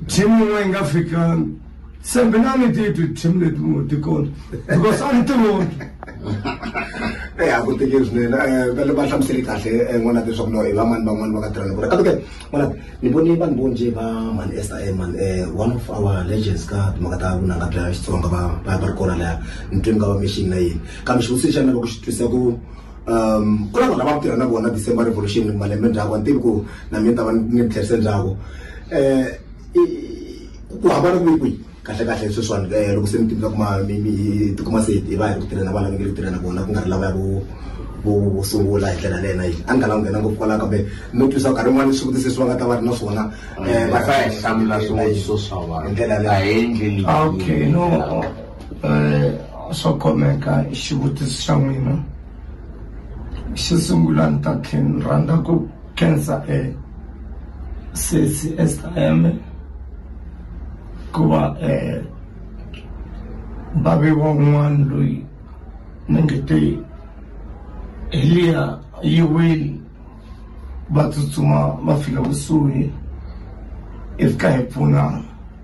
team yin'wana yi nga fikangi se mina ni ti twi team leti mu ti kona because a ni ti voni eh a ku teke swinene eh, va le va hlamuseli kahle eh, n'wana ti leswaku no i vamani van'wani va ka tirhana ku ri katoke n'wana ni vone vanhu vo nje va mani esta e mani eh, one of our legends ka timhaka ta vunanga bya xitsonga va va ri kona laya ni twe ni nga va mixini na yini kambe xivutiso xa mina loko xi twisa ku um ku na vanhu lava tirha na vona december revolution malembe ndzhaku a ni tivi ku na mina ta va ni tlherise ndzhaku um ku hambana kumi kwihi kahle kahle sweswiwani eh, loko se mi tivisa kuma tikuma se hi va hi ri ku tirhela vana mi nge ri tirhela vona ku nga ri lava ya vo sungula hi ndlela lena yini a ni nga langu nghena ngopfu kwalaho kambe no twisa nkarhi wun'wana swivutiso leswi va nga ta va ri na swona eh, va hlamula swivutiso swa vanhu hi ndlela leyi okay no um swo khomeka xivutiso xa n'wina xo sungula ni ta tlhe ni rhandza ku khensa um sesi S_I_M ku va um va ve van'wani loyi ni nge te hi liya yi wile va tsutsuma va fika kusuhi hi fika hi pfunana.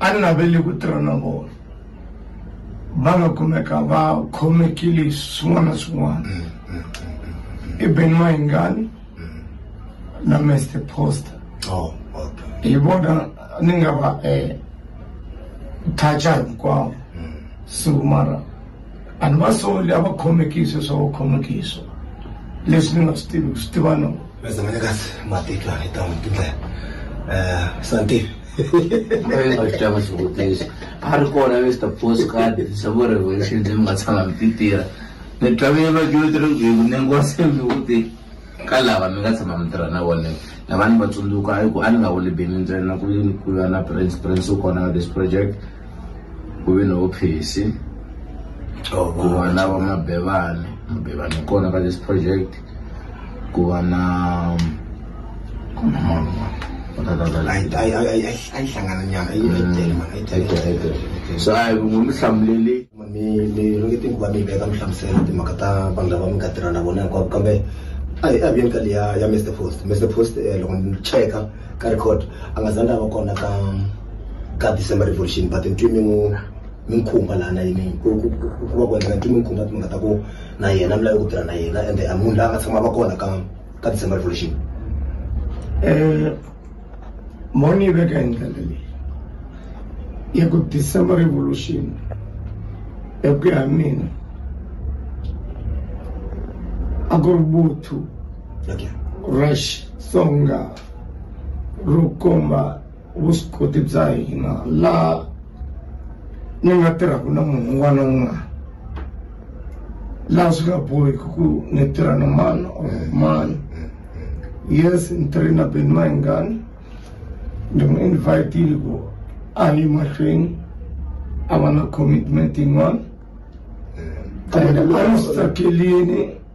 a ni naveli ku tirha na vona va nga kumeka va khomekile swin'wana na swin'wana mm, mm, mm, i ben mahingani na mester poster oh, hi vona ni nga va um toucha hinkwavo so mara a ni va soli a va khomekiswe swa va khomekiswa leswi ni nga swi tivi ku swi tiva no Mezanine kahle matitlo a ni ta n'wi tindlela um santif aitava xivutiso a ri kona mr postcard savo revolution leyi mi nga tshama mi ti tirha ni twavile vadyoti ri ku ni ngo se mi vuti ka lava mi nga tshama mi tirha na vona na vanhu va tsundzuka a ku a ni nga wuli bini ntsena ku yini ku ya na prince prince u kona ka this project ku ve ni hophisi ku va na va mabevani mabevani u kona ka this project ku va na ku na mhangu so a hi n'wi mi hlamuleli mi mi ringeti ku va mi veka mi hlamusela timhaka ta vanhu lava mi nga tirha na vona hinkwavo kambe a hi a viyeni ka leya ya mr post mr post eh, loko ni cheka ka record a nga zangi a va kona ka ka december revolution but ntwi mi n'wi mi n'wi khumba lana yini ku ku- ku- ku va ku endleka ntwi mi n'wi khumba timhaka ta ku na yena mi lave ku tirha na yena ende a munhu la nga tshama va kona ka ka december revolution um mo ni yi veka hi ndlela leyi ya ku december revolution ya ku ya mina a ku ri vuthu okay ra xitsonga ro komba vuswikoti bya hina laha ni nga tirhaka na munhu un'wana na un'wana laha swi nga bohiki ku ni tirha na mani or mani yes ni tirhe na beni mahingani ni n'wi invitile ku a yi mahlweni a va na commitment yin'wana and a ni swi tsakelini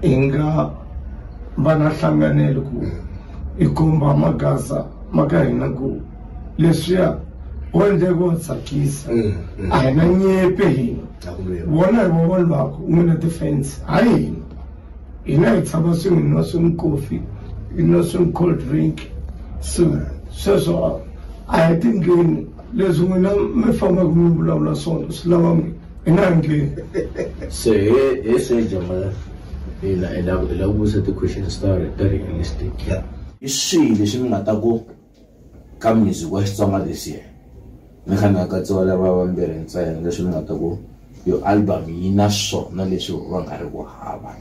hi nga va na hlanganelo ku hi komba magaza ma ka hina ku leswiya wo endleke wa tsakisa mm, mm. a hi na nyepe hina vona hi vavoni vako u nge na defense hayi hina hina hi tshama swin'we hi nwa swin'we kofi hi nwa swin'we cold drink so sweswo a hi tingeni leswi n'wina mi fambaka mi vulavula swona swi lava n'wina i nga ringi se he he se jamala ina i lava i lava ku vutisa ti-question star ta ri realistic yeah. i swihi leswi mi nga ta ku ka music wa xitsonga this year mi kha mi akatsiwa lava vambirhi ntsena leswi mi nga ta ku yo album yi na swona leswi va nga ri ku hava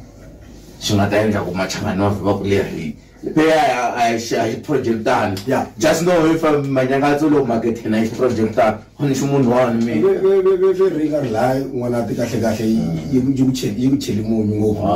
swi nga ta endla ku machangani wa vhima ku leri Leya a hi xa hi project tani. Yeah. Just know if um, manyakatso lowu market na hi project tani. Ho ni ximunhu wani mi. Ve ve ve ve ve ringa rilaya n'wana ti kahle kahle yi yi ku cheli yi ku cheli munyu ngopfu.